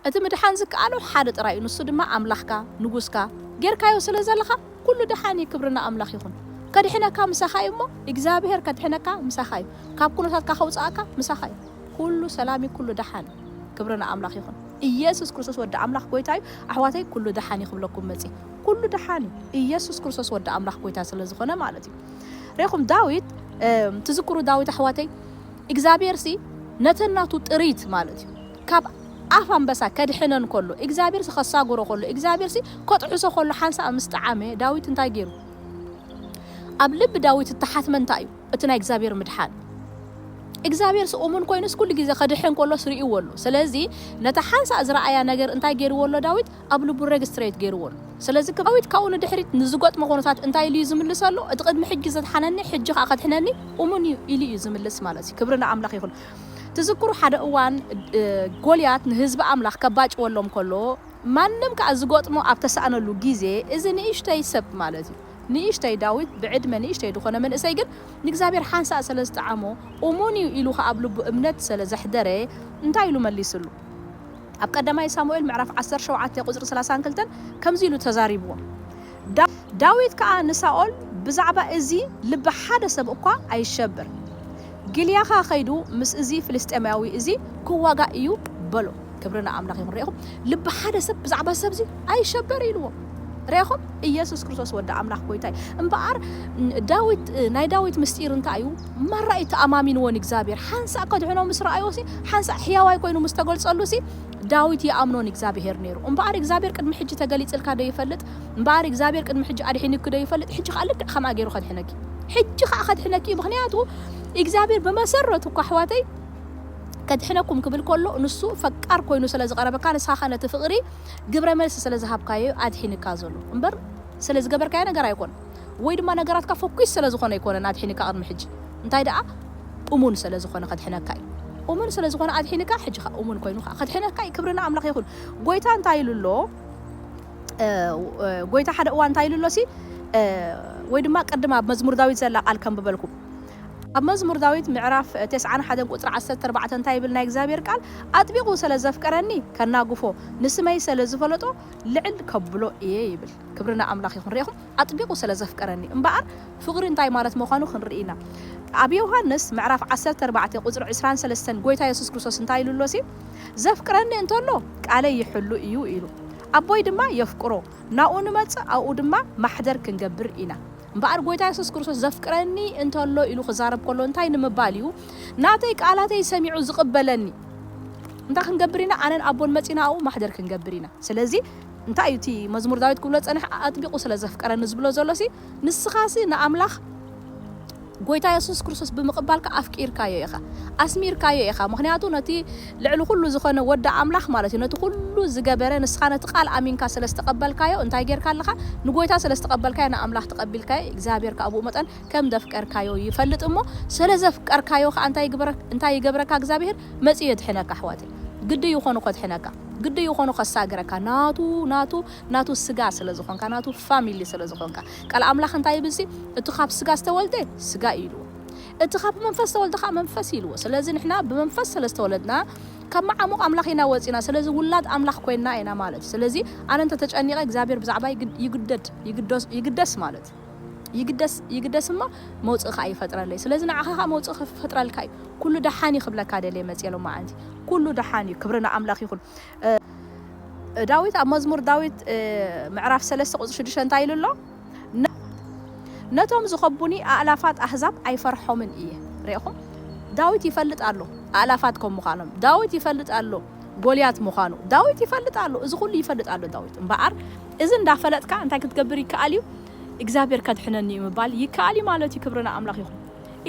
እቲ ምድሓን ዝከኣሎ ሓደ ጥራይ እዩ ንሱ ድማ ኣምላኽካ፣ ንጉስካ፣ ጌርካዮ ስለ ዘለኻ ኩሉ ደሓን እዩ ክብሪ ንኣምላኽ ይኹን። ከድሕነካ ምሳኻ እዩ እሞ ኢግዛብሄር ከድሕነካ ምሳኻ እዩ ካብ ኩነታትካ ከውጽኣካ ምሳኻ እዩ ኩሉ ሰላም እዩ ኩሉ ደሓን እዩ ክብሪ ንኣምላኽ ይኹን። ኢየሱስ ክርስቶስ ወዲ ኣምላኽ ጎይታ እዩ ኣሕዋተይ ኩሉ ደሓን እዩ ክብለኩም መጽየ ኩሉ ደሓን እዩ ኢየሱስ ክርስቶስ ወዲ ኣምላኽ ጎይታ ስለ ዝኾነ ማለት እዩ ሬኹም ዳዊት ትዝክሩ ዳዊት ኣሕዋተይ ኢግዛብሄር ሲ ነተን ናቱ ጥሪት ማለት እዩ ካብ ኣፍ ኣንበሳ ከድሕነን ከሎ፣ እግዚኣብሄርሲ ከሳጉሮ ከሎ፣ እግዚኣብሄርሲ ከጥዕሶ ከሎ ሓንሳእ ምስ ጠዓመ፣ ዳዊት እንታይ ገይሩ? ኣብ ልቢ ዳዊት እተሓትመ እንታይ እዩ? እቲ ናይ እግዚኣብሄር ምድሓን። እግዚኣብሄርሲ እሙን ኮይኑስ ኩሉ ግዜ ከድሕን ከሎስ ርእይዎ ኣሎ። ስለዚ ነታ ሓንሳእ ዝረኣያ ነገር እንታይ ገይርዎ ኣሎ ዳዊት? ኣብ ልቡ ረግስትሬት ገይርዎ ኣሎ። ስለዚ ዳዊት ካብኡ ንድሕሪት ንዝገጥሞ ኩነታት እንታይ ኢሉ እዩ ዝምልሰሉ? እቲ ቅድሚ ሕጂ ዘድሓነኒ ሕጂ ከኣ ከድሕነኒ እሙን እዩ ኢሉ እዩ ዝምልስ ማለት እዩ። ክብሪ ንኣምላኽ ይኹን። ትዝክሩ ሓደ እዋን ጎልያት ንህዝቢ ኣምላኽ ከባጭወሎም ከሎ ማንም ከኣ ዝገጥሞ ኣብ ተሳእነሉ ግዜ እዚ ንእሽተይ ሰብ ማለት እዩ ንእሽተይ ዳዊት ብዕድመ ንእሽተይ ዝኾነ መንእሰይ ግን ንእግዚኣብሔር ሓንሳእ ሰለ ዝጠዓሞ እሙን እዩ ኢሉ ከኣ ኣብ ልቡ እምነት ሰለ ዘሕደረ እንታይ ኢሉ መሊስሉ ኣብ ቀዳማይ ሳሙኤል ምዕራፍ ዓሰርተ ሸውዓተ ቁጽሪ ሰላሳን ክልተን ከምዚ ኢሉ ተዛሪብዎም ዳዊት ከኣ ንሳኦል፣ ብዛዕባ እዚ ልቢ ሓደ ሰብ እኳ ኣይሸበር፣ ጊልያኻ ኸይዱ ምስ እዚ ፍልስጥኤማዊ እዚ ኪዋጋእ እዩ፣ በሎ። ክብሪ ንኣምላኽ ይኹን። ርኤኹም? ልቢ ሓደ ሰብ ብዛዕባ ሰብ እዚ ኣይሸበር ኢልዎ። ርኤኹም? ኢየሱስ ክርስቶስ ወዲ ኣምላኽ ጐይታ እዩ። እምበኣር ዳዊት፣ ናይ ዳዊት ምስጢር እንታይ እዩ? ማራ እዩ ተኣማሚንዎ ንእግዚኣብሄር። ሓንሳእ ከድሕኖ ምስ ረኣዮሲ፣ ሓንሳእ ሕያዋይ ኮይኑ ምስ ተገልጸሉሲ፣ ዳዊት ይኣምኖ ንእግዚኣብሄር ነይሩ እምበኣር እግዚኣብሄር ቅድሚ ሕጂ ተገሊጽልካ ዶ ይፈልጥ እምበኣር እግዚኣብሄር ቅድሚ ሕጂ ኣድሒንኪ ዶ ይፈልጥ ሕጂ ከኣ ልክዕ ከምኣ ገይሩ ከድሕነኪ ሕጂ ከኣ ከድሕነኪ እዩ ምክንያቱ እግዚኣብሄር ብመሰረቱ እኮ ኣሕዋተይ ከድሕነኩም ክብል ከሎ ንሱ ፈቃር ኮይኑ ስለ ዝቀረበካ ንስኻ ከ ነቲ ፍቅሪ ግብረ መልሲ ስለ ዝሃብካዮ እዩ ኣድሒንካ ዘሎ እምበር ስለ ዝገበርካዮ ነገር ኣይኮን ወይ ድማ ነገራትካ ፎኪስ ስለ ዝኾነ ኣይኮነን ኣድሒንካ ቅድሚ ሕጂ እንታይ ደኣ ኡሙን ሰለ ዝኮነ ከድሕነካ እዩ ኡሙን ሰለ ዝኮነ ኣድሒንካ ሕጂ ከኣ ኡሙን ኮይኑ ከኣ ከድሕነካ እዩ ክብሪ ንኣምላኽ ይኩን ጎይታ እንታይ ኢሉ ኣሎ ጎይታ ሓደ እዋን እንታይ ኢሉ ኣሎሲ ወይ ድማ ቅድም ኣብ መዝሙር ዳዊት ዘላ ቃል ከንብበልኩም ኣብ መዝሙር ዳዊት ምዕራፍ ቴስዓን ሓደን ቁጽሪ ዓሰርተ ኣርባዕተ እንታይ ይብል ናይ እግዚኣብሔር ቃል ኣጥቢቑ ሰለ ዘፍቀረኒ ከናግፎ ንስመይ ሰለ ዝፈለጦ ልዕል ከብሎ እየ ይብል ክብሪ ንኣምላኽ ይኹን ርኢኹም ኣጥቢቑ ስለ ዘፍቀረኒ እምበኣር ፍቕሪ እንታይ ማለት ምዃኑ ክንርኢ ኢና። ኣብ ዮሃንስ ምዕራፍ ዓሰርተ ኣርባዕተ ቁጽሪ ዕስራን ሰለስተን ጐይታ የሱስ ክርስቶስ እንታይ ኢሉ ኣሎሲ፣ ዘፍቅረኒ እንተሎ ቃለይ ይሕሉ እዩ ኢሉ። ኣቦይ ድማ የፍቅሮ፣ ናብኡ ንመጽእ ኣብኡ ድማ ማሕደር ክንገብር ኢና። እምበኣር ጐይታ የሱስ ክርስቶስ ዘፍቅረኒ እንተሎ ኢሉ ክዛረብ ከሎ እንታይ ንምባል እዩ፣ ናተይ ቃላተይ ሰሚዑ ዝቕበለኒ እንታይ ክንገብር ኢና፣ ኣነን ኣቦን መጺእና ኣብኡ ማሕደር ክንገብር ኢና። ስለዚ። እንታይ እዩ እቲ መዝሙር ዳዊት ክብሎ ዝጸንሐ ኣጥቢቑ ስለ ዘፍቀረኒ ዝብሎ ዘሎሲ ንስኻሲ ንኣምላኽ ጎይታ የሱስ ክርስቶስ ብምቕባልካ ኣፍቂርካዮ ኢኻ ኣስሚርካዮ ኢኻ ምኽንያቱ ነቲ ልዕሊ ኩሉ ዝኾነ ወዲ ኣምላኽ ማለት እዩ ነቲ ኩሉ ዝገበረ ንስኻ ነቲ ቃል ኣሚንካ ስለ ዝተቐበልካዮ እንታይ ጌርካ ኣለኻ ንጎይታ ስለ ዝተቐበልካዮ ንኣምላኽ ተቐቢልካዮ እግዚኣብሔር ከኣ ብኡ መጠን ከም ዘፍቀርካዮ ይፈልጥ እሞ ስለ ዘፍቀርካዮ ከኣ እንታይ ይገብረካ እንታይ ይገብረካ እግዚኣብሔር መጺኡ የድሕነካ ኣሕዋተይ ግዲ ይኾኑ ከድሕነካ ግዲ ይኾኑ ከሳግረካ ናቱ ናቱ ናቱ ስጋ ስለ ዝኾንካ ናቱ ፋሚሊ ስለ ዝኾንካ ቃል ኣምላኽ እንታይ ይብል ሲ እቲ ካብ ስጋ ዝተወልደ ስጋ እዩ ኢልዎ እቲ ካብ መንፈስ ዝተወልደ ከኣ መንፈስ እዩ ኢልዎ ስለዚ ንሕና ብመንፈስ ስለ ዝተወለድና ካብ መዓሙቕ ኣምላኽ ኢና ወጺና ስለዚ ውላድ ኣምላኽ ኮይንና ኢና ማለት እዩ ስለዚ ኣነ እንተ ተጨኒቐ እግዚኣብሔር ብዛዕባይ ይግደድ ይግደስ ማለት ይግደስ ይግደስ እሞ መውጽኢ ከኣ ይፈጥረለይ ስለዚ ንዓኻ ከኣ መውጽኢ ክፈጥረልካ እዩ ኩሉ ደሓን እዩ ክብለካ ደልየ መጽየ ሎማዓንቲ። ኩሉ ደሓን እዩ ክብሪ ንኣምላኽ ይኹን። ዳዊት ኣብ መዝሙር ዳዊት ምዕራፍ ሰለስተ ቁጽሪ ሽዱሽተ እንታይ ኢሉ ኣሎ? ነቶም ዝኸቡኒ ኣእላፋት ኣህዛብ ኣይፈርሖምን እየ። ርኢኹም? ዳዊት ይፈልጥ ኣሎ ኣእላፋት ከም ምዃኖም። ዳዊት ይፈልጥ ኣሎ ጎልያት ምዃኑ። ዳዊት ይፈልጥ ኣሎ እዚ ኩሉ ይፈልጥ ኣሎ ዳዊት። እምበኣር እዚ እንዳፈለጥካ እንታይ ክትገብር ይከኣል እዩ እግዚኣብሔር ከድሕነኒ እዩ ምባል ይከኣል እዩ ማለት እዩ ክብሪ ንኣምላኽ ይኹን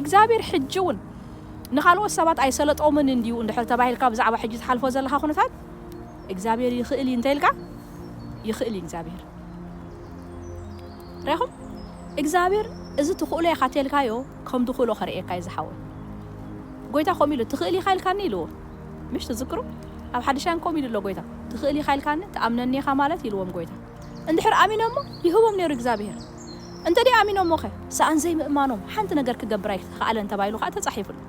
እግዚኣብሔር ሕጂ እውን ንኻልኦት ሰባት ኣይሰለጦምን እንድዩ እንድሕር ተባሂልካ ብዛዕባ ሕጂ ትሓልፎ ዘለኻ ኩነታት እግዚኣብሔር ይኽእል እዩ እንተኢልካ ይኽእል እዩ እግዚኣብሔር ሪኹም እግዚኣብሔር እዚ ትኽእሎ ኢኻ ተልካዮ ከም ድኽእሎ ከርእየካ እዩ ዝሓወይ ጎይታ ከምኡ ኢሉ ትኽእል ኢኻ ኢልካኒ ኢልዎ ምሽ ትዝክሩ ኣብ ሓድሻን ኮም ኢሉ ኣሎ ጎይታ ትክእል ኢካ ኢልካኒ ትኣምነኒ ኢካ ማለት ኢልዎም ጎይታ እንድሕር ኣሚኖሞ ይህቦም ነይሩ እግዛብሄር እንተ ደይ ኣሚኖሞ ከ ስኣን ዘይ ምእማኖም ሓንቲ ነገር ክገብር ኣይ ክኣለን ተባሂሉ ከኣ ተጻሒፉ ኣሎ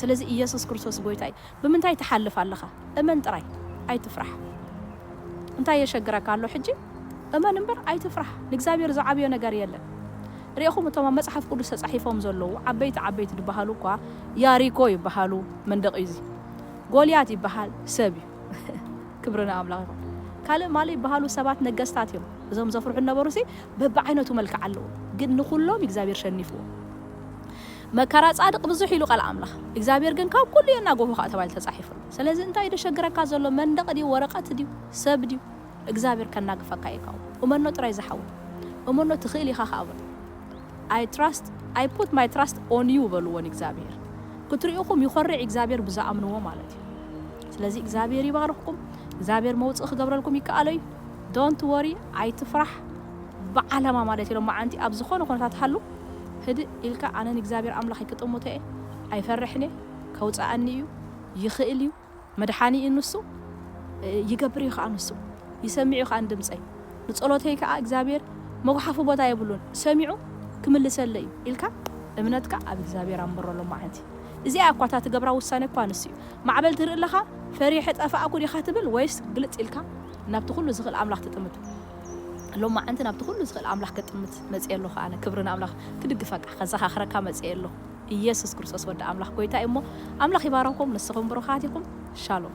ስለዚ እየሱስ ክርስቶስ ጎይታ እዩ ብምንታይ ትሓልፍ ኣለካ እመን ጥራይ ኣይ ትፍራሕ እንታይ የሸግረካ ኣሎ ሕጂ እመን እምበር ኣይትፍራሕ ንእግዚኣብሔር ዝዓብዮ ነገር የለን ርኤኹም እቶም ኣብ መጽሓፍ ቅዱስ ተጻሒፎም ዘለዉ ዓበይቲ ዓበይቲ ድበሃሉ እኳ ያሪኮ ይበሃሉ መንደቕ እዩ እዚ ጎልያት ይበሃል ሰብ እዩ ክብሪ ንኣምላኽ ይኹን ካልእ ማሊ ይበሃሉ ሰባት ነገስታት እዮም እዞም ዘፍርሑ ነበሩሲ በብዓይነቱ መልክዕ ኣለዉ ግን ንኹሎም እግዚኣብሔር ሸኒፍዎ መከራ ጻድቅ ብዙሕ ኢሉ ቃል ኣምላኽ እግዚኣብሔር ግን ካብ ኩሉ የናጎሆ ከኣ ተባሂሉ ተጻሒፉ ኣሎ ስለዚ እንታይ እዩ ደሸግረካ ዘሎ መንደቕ ድዩ ወረቐት ድዩ ሰብ ድዩ እግዝኣብሄር ከናግፈካ እዩ ካብኡ እመኖ ጥራይ ዝሓወይ እመኖ ትክእል ኢካ ከኣ በሎ ኣይ ትራስት ኣይ ፑት ማይ ትራስት ኦን ዩ በልዎ ንእግዝኣብሄር ክትሪኡኩም ይኮርዕ እግዝኣብሄር ብዝኣምንዎ ማለት እዩ ስለዚ እግዝኣብሄር ይባርክኩም እግዝኣብሄር መውጽኢ ክገብረልኩም ይከኣሎ እዩ ዶንት ወሪ ኣይትፍራሕ ብዓላማ ማለት እዩ ሎማዓንቲ ኣብ ዝኮነ ኩነታት ሃሉ ህድእ ኢልካ ኣነ ንእግዝኣብሄር ኣምላከይ ክጥምቶ እየ ኣይፈርሕን እየ ከውጽኣኒ እዩ ይክእል እዩ መድሓኒ እዩ ንሱ፣ ይገብር እዩ ኸኣ ንሱ፣ ይሰምዕ እዩ ኸኣ ንድምጸይ፣ ንጸሎተይ ከኣ እግዚኣብሔር መጉሓፊ ቦታ የብሉን፣ ሰሚዑ ክምልሰለይ እዩ ኢልካ እምነትካ ኣብ እግዚኣብሔር ኣንብሮ ሎማዓንቲ። እዚኣ እያ እኳ እታ ትገብራ ውሳኔ እኳ ንሱ እዩ። ማዕበል ትርኢ ኣለኻ ፈሪሐ ጠፋእኩ ዲኻ ትብል ወይስ ግልጽ ኢልካ ናብቲ ኩሉ ዝኽእል ኣምላኽ ትጥምት። ሎማዓንቲ ናብቲ ኩሉ ዝኽእል ኣምላኽ ክጥምት መጺኤ ኣለኹ ኣነ። ክብሪ ንኣምላኽ። ክድግፈካ ከዘኻኽረካ መጺኤ ኣለኹ። እየሱስ ክርስቶስ ወዲ ኣምላኽ ጎይታ እዩ እሞ ኣምላኽ ይባርኽኩም ንስኹም ብሩኻት ኢኹም ሻሎም።